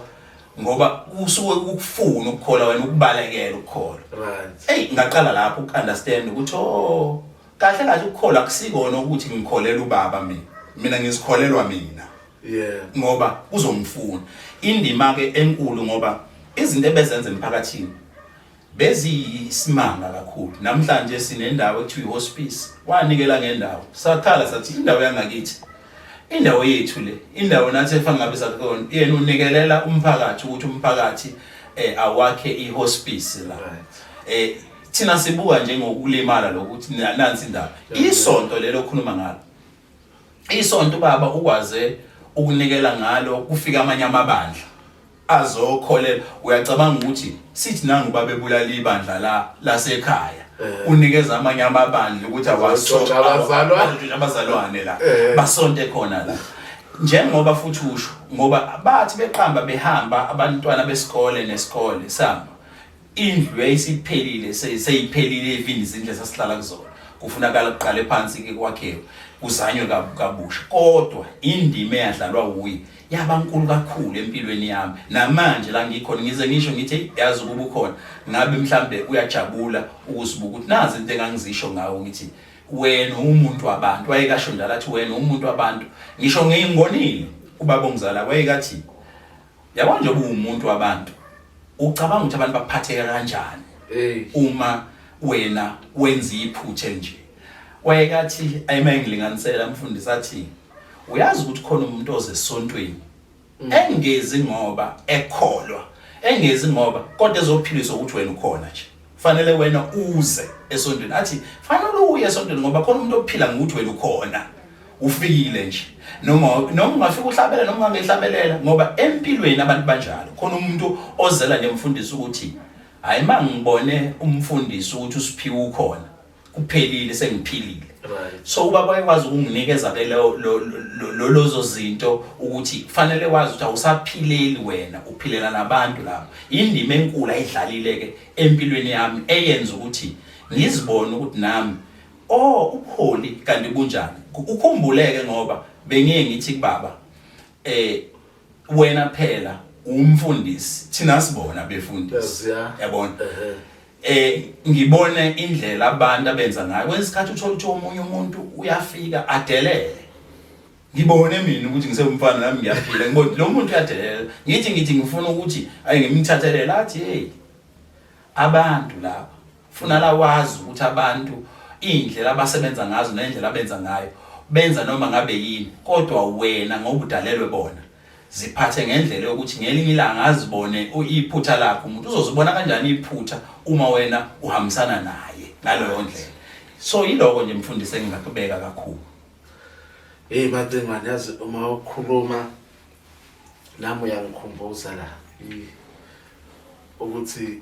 ngoba kusuke kukufuna ukukholwa wena ukubalekela ukukholwa right eyi ngaqala lapho uku-understand ukuthi o kahle kahle ukukholwa akusikona ukuthi ngikholela ubaba mina mina ngizikholelwa mina yeah ngoba uzomfuna indima ke enkulu ngoba izinto ebezenza emphakathini beziyisimanga kakhulu namhlanje sinendawo ekuthiwa ihospice wanikela ngendawo sakhala sathi indawo yangakithi indawo yethu le indawo nathi efana ngabe sakuyona yena unikelela umphakathi ukuthi umphakathi eh awakhe ihospice la eh thina sibuka njengokulimala lokuthi nansi indaba isonto lelo khuluma ngalo Isonto ubaba ukwaze ukunikela ngalo kufika amanye amabandla azokholela uyacabanga ukuthi sithi nangu babebulala ibandla la lasekhaya eh. unikeza amanye amabandla ukuthi abazalwane la eh. basonte khona la njengoba futhi usho ngoba bathi beqamba behamba abantwana besikole nesikole sami indlu yayisiphelile se- seyiphelile ivini izindlu esasihlala kuzona kufunakala kuqale phansi ke kwakhiwe kuzanywe kab- kabusha kodwa indima eyadlalwa wuye yaba nkulu kakhulu empilweni yami namanje la ngikhona ngize ngisho ngithi "Eyi, yazi ukuba ukhona ngabe mhlambe uyajabula ukuzibuka ukuthi nazi into engangizisho ngawo ngithi wena umuntu wabantu wayekasho njalo athi wena umuntu wabantu ngisho ngingonile ubaba ongizala wayekathi Yabo nje ubuwumuntu wabantu ucabanga ukuthi abantu bakuphatheka kanjani uma wena wenza iphuthe nje wayekathi ayimayengilinganisela mfundisi athi uyazi ukuthi khona umuntu ozesontweni mm. engezi ngoba ekholwa engezi ngoba kodwa ezophiliswa ukuthi wena ukhona nje fanele wena uze esontweni athi fanele uye esontweni ngoba khona umuntu ophila ngokuthi wena ukhona ufikile nje noma noma ungafika uhlabela noma ungahlabelela ngoba empilweni abantu banjalo khona umuntu ozela nemfundisi ukuthi hayi mangibone umfundisi ukuthi usiphiwe ukhona kuphelile sengiphilile so ubaba wayekwazi ukunginikeza ke lozo zinto ukuthi kufanele wazi ukuthi awusaphileli wena uphilela nabantu lapho indima enkulu ayidlalile ke empilweni yami eyenza ukuthi ngizibone ukuthi nami oh ubuholi kanti bunjani ukhumbuleke ngoba bengiye ngithi kubaba eh wena phela umfundisi thina sibona befundisi yabona eh ngibone indlela abantu abenza ngayo kwesikhathi uthola ukuthi omunye umuntu uyafika adelele ngibone mina ukuthi ngisewumfana nami ngiyaphila ngibone lo muntu uyadelela ngithi ngithi ngifuna ukuthi ayi ngimthathelele athi hey abantu laba funa la wazi ukuthi abantu indlela abasebenza ngazo nendlela abenza ngayo benza noma ngabe yini kodwa wena ngokudalelwe bona ziphathe ngendlela yokuthi ngelinye ilanga azibone iphutha lakho umuntu uzozibona kanjani iphutha uma wena uhambisana naye ngaleyo ndlela so yiloko nje mfundisi engingakubeka kakhulu hey macingwane yazi uma ukhuluma nami uyangikhumbuza la ukuthi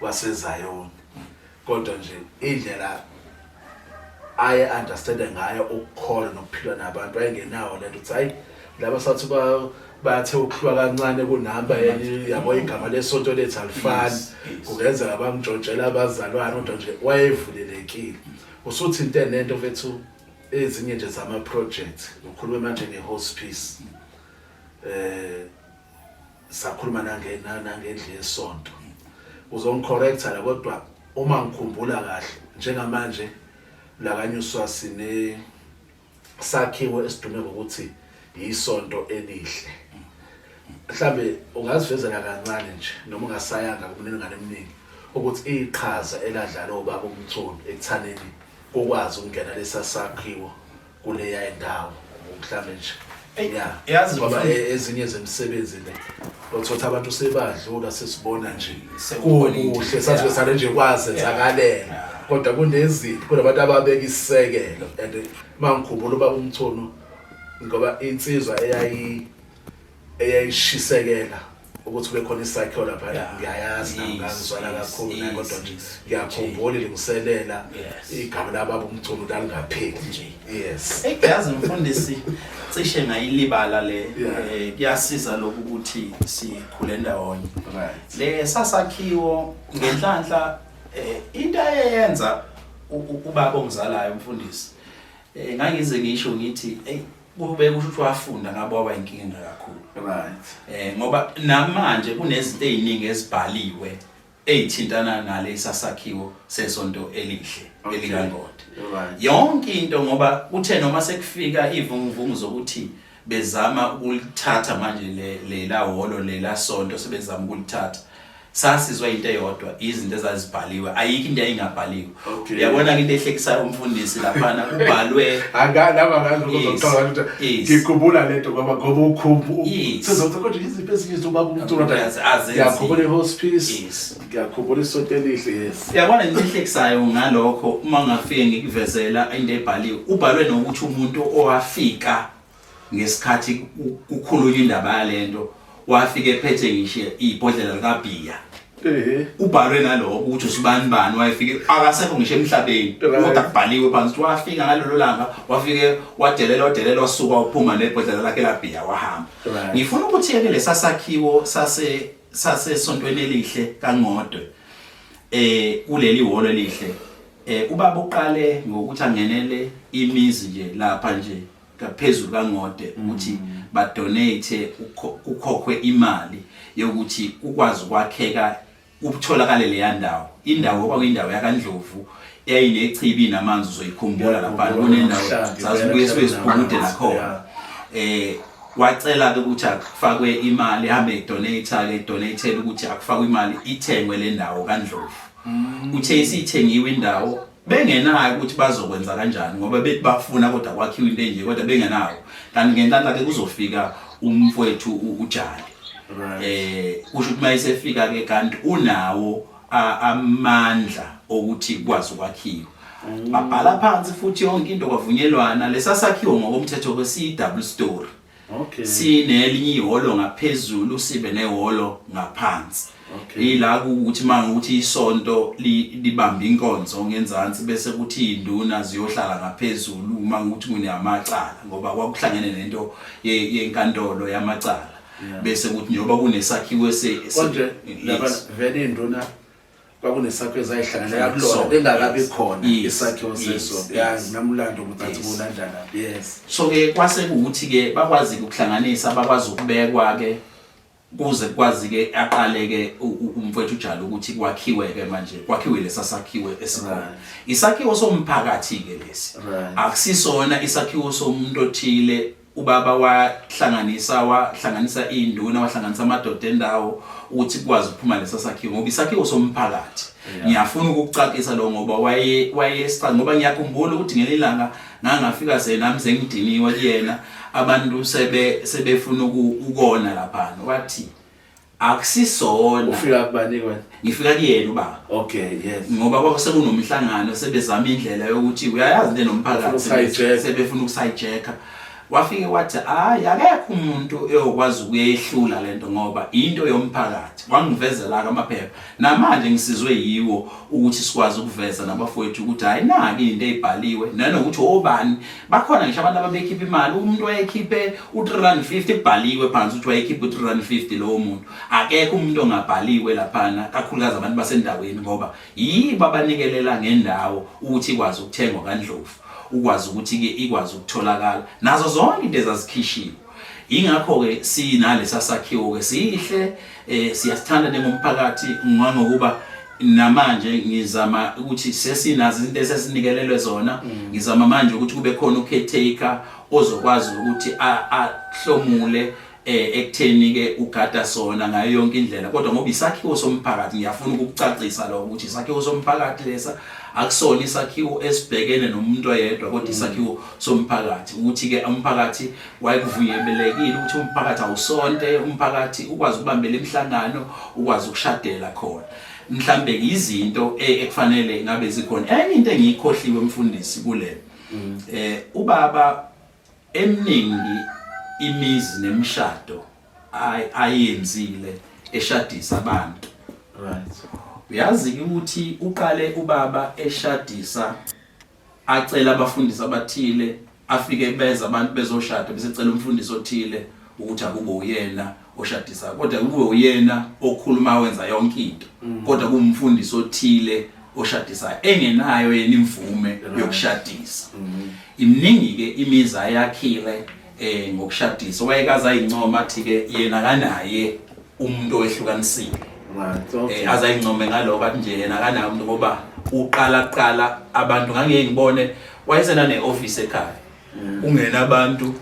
waseZayoni kodwa nje indlela aye understand ngayo ukukhola nokuphila nabantu ayengenawo lento ukuthi hayi laba sathi ba bathe ukuhlwa kancane kunamba yabo igama lesonto lethu alifani kungenzeka bamjojela abazalwane kodwa nje wayevulelekile usuthi into enento mfethu ezinye nje zama project ukhuluma manje nge hospice eh sakhuluma nange nangendle yesonto uzongicorrecta la kodwa uma ngikhumbula kahle njengamanje lakanyuswa sine sakhiwo esidume ngokuthi yisonto elihle mhlambe ungazivezela kancane nje noma ungasayanga kumniningane eminingi ukuthi iqhaza eladlala obaba umthoni ekuthaneni kokwazi ukungena lesasakhiwo kuleya indawo mhlambe nje ya yazi ngoba e- ezinye zemisebenzi le othothi abantu sebadlula sesibona nje kuhle sathi sale nje kwazenzakalela kodwa kunezinto kunabantu ababeka isisekelo and mangikhumbula uba umthono ngoba insizwa eyayi eyayishisekela ukuthi kube khona isakhiwo lapha la ngiyayazi nami ngangizwala kakhulu naye kodwa nje ngiyakhumbula ilungiselela igama lababa umculo lalingapheli nje yes eyazi mfundisi cishe ngayilibala le eh, kuyasiza lokhu ukuthi sikhule ndawonye le sasakhiwo ngenhlanhla eh, into ayeyenza ubaba ongizalayo umfundisi eh, ngangize ngisho ngithi eyi kube kusho ukuthi wafunda ngabe waba inkinga engakakhulu right eh ngoba namanje kunezinto eziningi ezibhaliwe ezithintana nale sasakhiwo sesonto elihle elikangode yonke into ngoba kuthe noma sekufika ivunguvungu zokuthi bezama ukulithatha manje le lela holo lela sonto sebezama ukulithatha sasizwa into eyodwa izinto ezazibhaliwe ayikho into yayingabhaliwe uyabona ke into ehlekisayo umfundisi laphana kubhalwe akalaba ngazokuzothola ngikhumbula lento ngoba ngoba ukhumbu sizothi kodwa iziphi ezinye izinto baba umthola ngiyakhumbula ihospice ngiyakhumbula isonto elihle yes uyabona into ehlekisayo ngalokho uma ngafike ngikuvezela into ebhaliwe ubhalwe nokuthi umuntu owafika ngesikhathi kukhulunywa indaba yalento wafika ephethe ngisho ibhodlela likabhiya kubhalwe naloko ukuthi usibani bani wayefike akasekho ngisho emhlabeni kodwa kubhaliwe phansi ukuthi wafika ngalelo langa wafike wadelela wadelela wasuka uphuma nebhodlela lakhe labhiya wahamba ngifuna ukuthi yeke lesasakhiwo sase sasesontweni elihle kangodwe eh kuleli holo elihle eh ubaba uqale ngokuthi angenele imizi nje lapha nje ngaphezulu kangode ukuthi mm. badonate kukhokhwe imali yokuthi kukwazi ukwakheka ukutholakala leya ndawo indawo okwakuyindawo yakandlovu yayinechibi namanzi uzoyikhumbula lapha kunendawo zazibuye sibe siphumude nakhona eh wacela ke ukuthi akufakwe imali hambe idonate ke donate ukuthi akufakwe imali ithengwe le ndawo kandlovu mm. uthe isithengiwe indawo bengenayo ukuthi bazokwenza kanjani ngoba bethi bafuna kodwa kwakhiwa into enje kodwa bengenayo kanti ngenhlanhla ke kuzofika umfowethu ujali eh kusho ukuthi mayisefika ke kanti unawo amandla okuthi kwazi ukwakhiwa mm. babhala phansi futhi yonke into kwavunyelwana lesasakhiwo ngokomthetho kwesiyi double story Okay. Sinelinye iholo ngaphezulu sibe neholo ngaphansi. Okay. Yila ukuthi mangukuthi isonto libamba inkonzo ngenzansi bese kuthi induna ziyohlala ngaphezulu uma ngukuthi kuneyamacala ngoba kwakuhlangene nento yenkantolo yamacala. Bese kuthi njengoba kunesakhiwo ese konje laba vele induna kwakunesakhiwo ezayihlanganela kulona bengakabi khona isakhiwo sesonto yazi namulando ukuthi athi kulandana yes so ke kwase kuwuthi ke bakwazi ukuhlanganisa bakwazi ukubekwa ke kuze kwazi ke aqale ke umfowethu ujalo ukuthi kwakhiwe ke manje kwakhiwe lesa sakhiwe esikhona isakhiwo somphakathi ke lesi akusisona isakhiwo somuntu othile ubaba wahlanganisa wahlanganisa iy'nduna wahlanganisa amadoda endawo ukuthi kukwazi ukuphuma lesa sakhiwo ngoba isakhiwo somphakathi ngiyafuna ukukucacisa lo ngoba waye wayesicanga ngoba ngiyakhumbula ukuthi ngelinye ilanga ngangafika se nami sengidiniwe kuyena abantu sebe sebefuna ukona laphana wathi akusisona ufika kubani kwena ngifika kuyena ubaba okay yes ngoba kwaba sekunomhlangano sebezama indlela yokuthi uyayazi le nomphakathi sebefuna ukusayijeka wafike wathi hayi akekho umuntu eyokwazi ukuyehlula lento ngoba into yomphakathi wangivezela ke amaphepha Namanje ngisizwe yiwo ukuthi sikwazi ukuveza nabafowethu ukuthi hayi naki into eyibhaliwe nanokuthi obani bakhona ngisho abantu ababekhipha imali umuntu wayekhiphe u350 kubhaliwe phansi ukuthi wayekhipha u350 lowo muntu akekho umuntu ongabhaliwe laphana kakhulukazi abantu basendaweni ngoba yibo abanikelela ngendawo ukuthi ikwazi ukuthengwa kandlovu ukwazi ukuthi ke ikwazi ukutholakala nazo zonke into ezazikhishiwe Ingakho-ke sinalesa sakhiwo-ke sihle um siyasithanda ningumphakathi ngangokuba namanje ngizama ukuthi sesinazo izinto esesinikelelwe zona mm. ngizama manje ukuthi kube khona ucaretaker ozokwazi ukuthi ahlomule eh ekutheni ke ugada sona ngayo yonke indlela kodwa ngoba isakhiwo somphakathi ngiyafuna ukukucacisa lo ukuthi isakhiwo somphakathi lesa akusona isakhiwo esibhekene nomuntu oyedwa kodwa mm. isakhiwo somphakathi ukuthi-ke umphakathi wayekuvunyelekile ukuthi umphakathi awusonte umphakathi ukwazi ukubambela imihlangano ukwazi ukushadela khona mhlambe izinto e, ekufanele ngabe zikhona enye into engiyikhohliwe mfundisi kule mm. eh ubaba eminingi imizi nemshado ayenzile eshadisa abantu right uyazi ukuthi uqale ubaba eshadisa acela abafundisi abathile afike beza abantu bezoshada bese cela umfundisi othile ukuthi akube uyena oshadisa kodwa kube uyena okhuluma wenza yonke into mm. kodwa kumfundisi othile oshadisa engenayo yena imvume yokushadisa mm. imningi ke imiza yakhile eh ngokushadisa wayekaza incoma athi ke yena kanaye umuntu owehlukanisile eh, azayincome ngaloko athi nje yena akanayo umuntu ngoba uqala kuqala abantu ngangiyeke ngibone wayesena ne-ofisi ekhaya mm. ungena abantu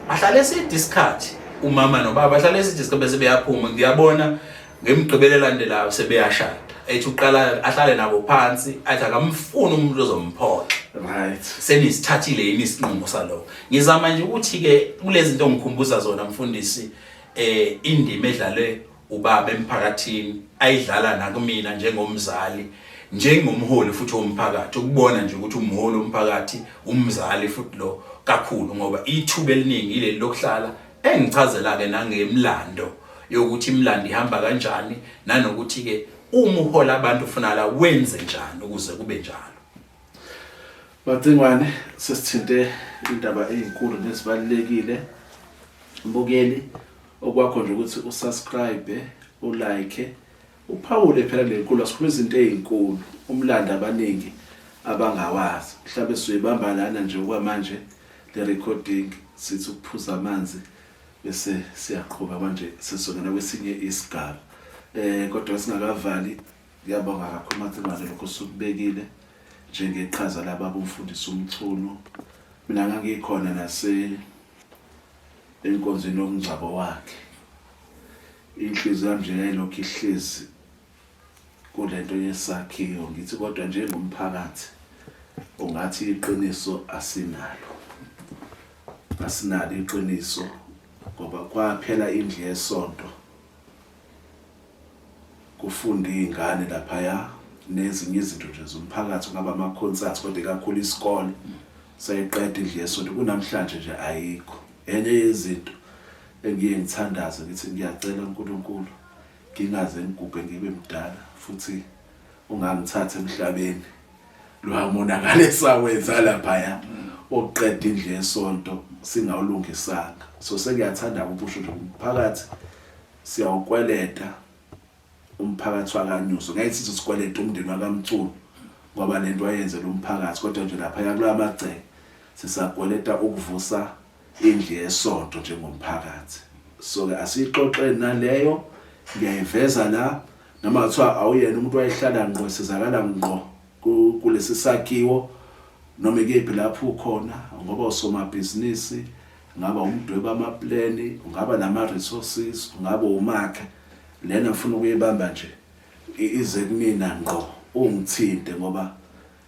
bahlale eside isikhathi umama nobaba bahlale eside isikhathi bese beyaphuma ngiyabona ngemgqibelo elandelayo sebeyashada ethi uqala ahlale nabo phansi athi akamfuni umuntu ozomphoxa right senisithathile yini isinqumo saloko ngizama nje ukuthi-ke kulezi nto ngikhumbuza zona mfundisi eh indima edlalwe ubaba emphakathini ayidlala nakumina njengomzali njengomholi futhi womphakathi ukubona nje ukuthi umholi womphakathi umzali futhi lo kakhulu ngoba ithuba eliningi ileli lokuhlala engichazela ke nangemlando yokuthi imlando ihamba kanjani nanokuthi ke uma uhola abantu ufuna la wenze njani ukuze kube njalo Macingwane sesithinte indaba ezinkulu nezibalekile mbukeli okwakho nje ukuthi usubscribe ulike uphawule phela lenkulu asikhuluma izinto ezinkulu umlando abaningi abangawazi mhlawumbe suyibamba lana nje okwamanje le recording sithi ukuphuza amanzi bese siyaqhuba manje sesongena kwesinye isigaba eh kodwa singakavali Ngiyabonga kakhulu Mathimane lokho sukubekile njengeqhaza lababa umfundisi uMchunu. Mina ngangikhona nase enkonzweni yomngcwabo wakhe. Inhliziyo yami nje yayilokhu ihlezi kulento yesakhiwo ngithi kodwa njengomphakathi ungathi iqiniso asinalo asinalo iqiniso ngoba kwaphela indlu yesonto kufunda iy'ngane laphaya nezinye izinto nje zomphakathi kungaba ama-concerts kodwa ikakhulu isikole seyiqeda indlu yesonto kunamhlanje nje ayikho enye yezinto engiye ngithandaze ngithi ngiyacela uNkulunkulu ngingaze ngigubhe ngibe mdala futhi ungangithatha emhlabeni lwamonakala esawenza laphaya okuqeda indlu yesonto singawulungisanga so sengiyathanda ukusho nje umphakathi Siyawukweleta umphakathi wakanyuso ngeke sithi sikweleta umndeni wakamculo ngoba lento wayenze lo mphakathi kodwa nje lapha yakula magceke sisakweleta ukuvusa indlu yesonto njengomphakathi so ke asiyixoxeni naleyo ngiyayiveza la noma kuthiwa awuyena umuntu wayehlala ngqo sizakala ngqo kulesi sakhiwo noma ikephi lapho ukhona ngoba usomabhizinisi Ungaba umdweba amapleni, ungaba nama-resources, ungaba umakhe. Lena ngifuna ukuyibamba nje ize kumina ngqo ungithinte ngoba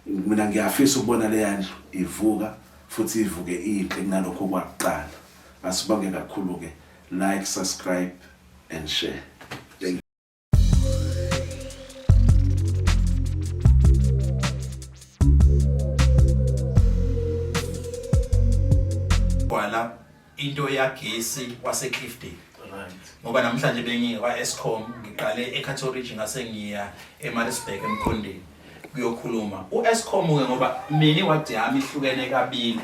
mina ngiyafisa ukubona leya ndlu ivuka futhi ivuke inhle kunalokho kwakuqala. Asibonge kakhulu-ke like, subscribe and share. kwala into yagesi waseCliffdale ngoba namhlanje bengiye kwa-escom ngiqale ecathorage ngase ngiya emaritzburg emkhondeni kuyokhuluma u-escom ke ngoba mina iwadi yami ihlukene kabili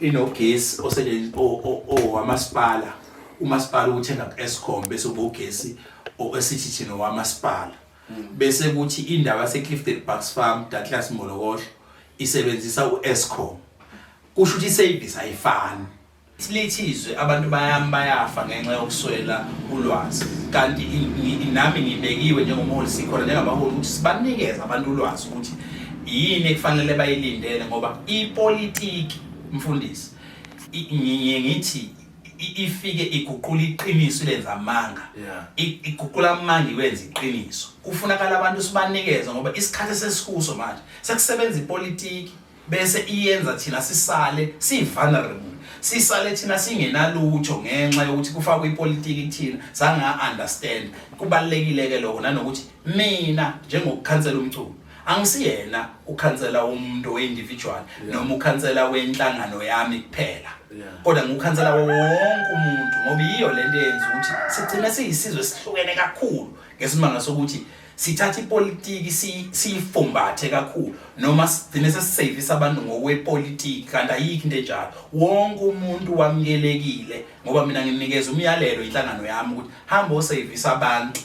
inogesi owamasipala umasipala uwuthenga ku-escom bese ubogesi esithi thina owamasipala hmm. bese kuthi indawo yaseclifton bucks farm datlas molokohlo isebenzisa u-escom kusho ukuthi isevisi ayifani Silithizwe abantu bayami bayafa ngenxa yokuswela ulwazi kanti nami ngibekiwe njengomholi sikhona njengabaholi ukuthi sibanikeze abantu ulwazi ukuthi yini ekufanele bayilindele ngoba ipolitiki mfundisi ngiye ngithi ifike iguqula iqiniso ilenza amanga iguqula amanga iwenza iqiniso kufunakala abantu sibanikeze ngoba isikhathi sesikuso manje sekusebenza ipolitiki bese iyenza thina sisale sivulnerable sisale thina singenalutho ngenxa yokuthi kufakwe ipolitiki kuthina sanga understand kubalekile ke lokho nanokuthi mina njengokukhansela umculo angisiyena ukhansela umuntu we-individual noma ukhansela wenhlangano yami kuphela kodwa ngukhansela wonke umuntu ngoba yiyo lento eyenza ukuthi sigcine siyisizwe sihlukene kakhulu ngesimanga sokuthi sithatha ipolitiki siyifumbathe kakhulu noma sigcine sesisevisa abantu ngokwepolitiki kanti ayikho into enjalo wonke umuntu wamukelekile ngoba mina nginikeza umyalelo inhlangano yami ukuthi hamba osevisa abantu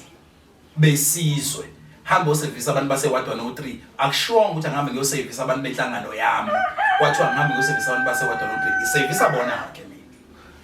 besizwe hamba osevisa abantu base-ward 103 akushiwonga ukuthi angihambe ngiyosevisa abantu benhlangano yami kwathiwa ngihambe ngiyosevisa abantu base-ward 103 ngisevisa bona-ke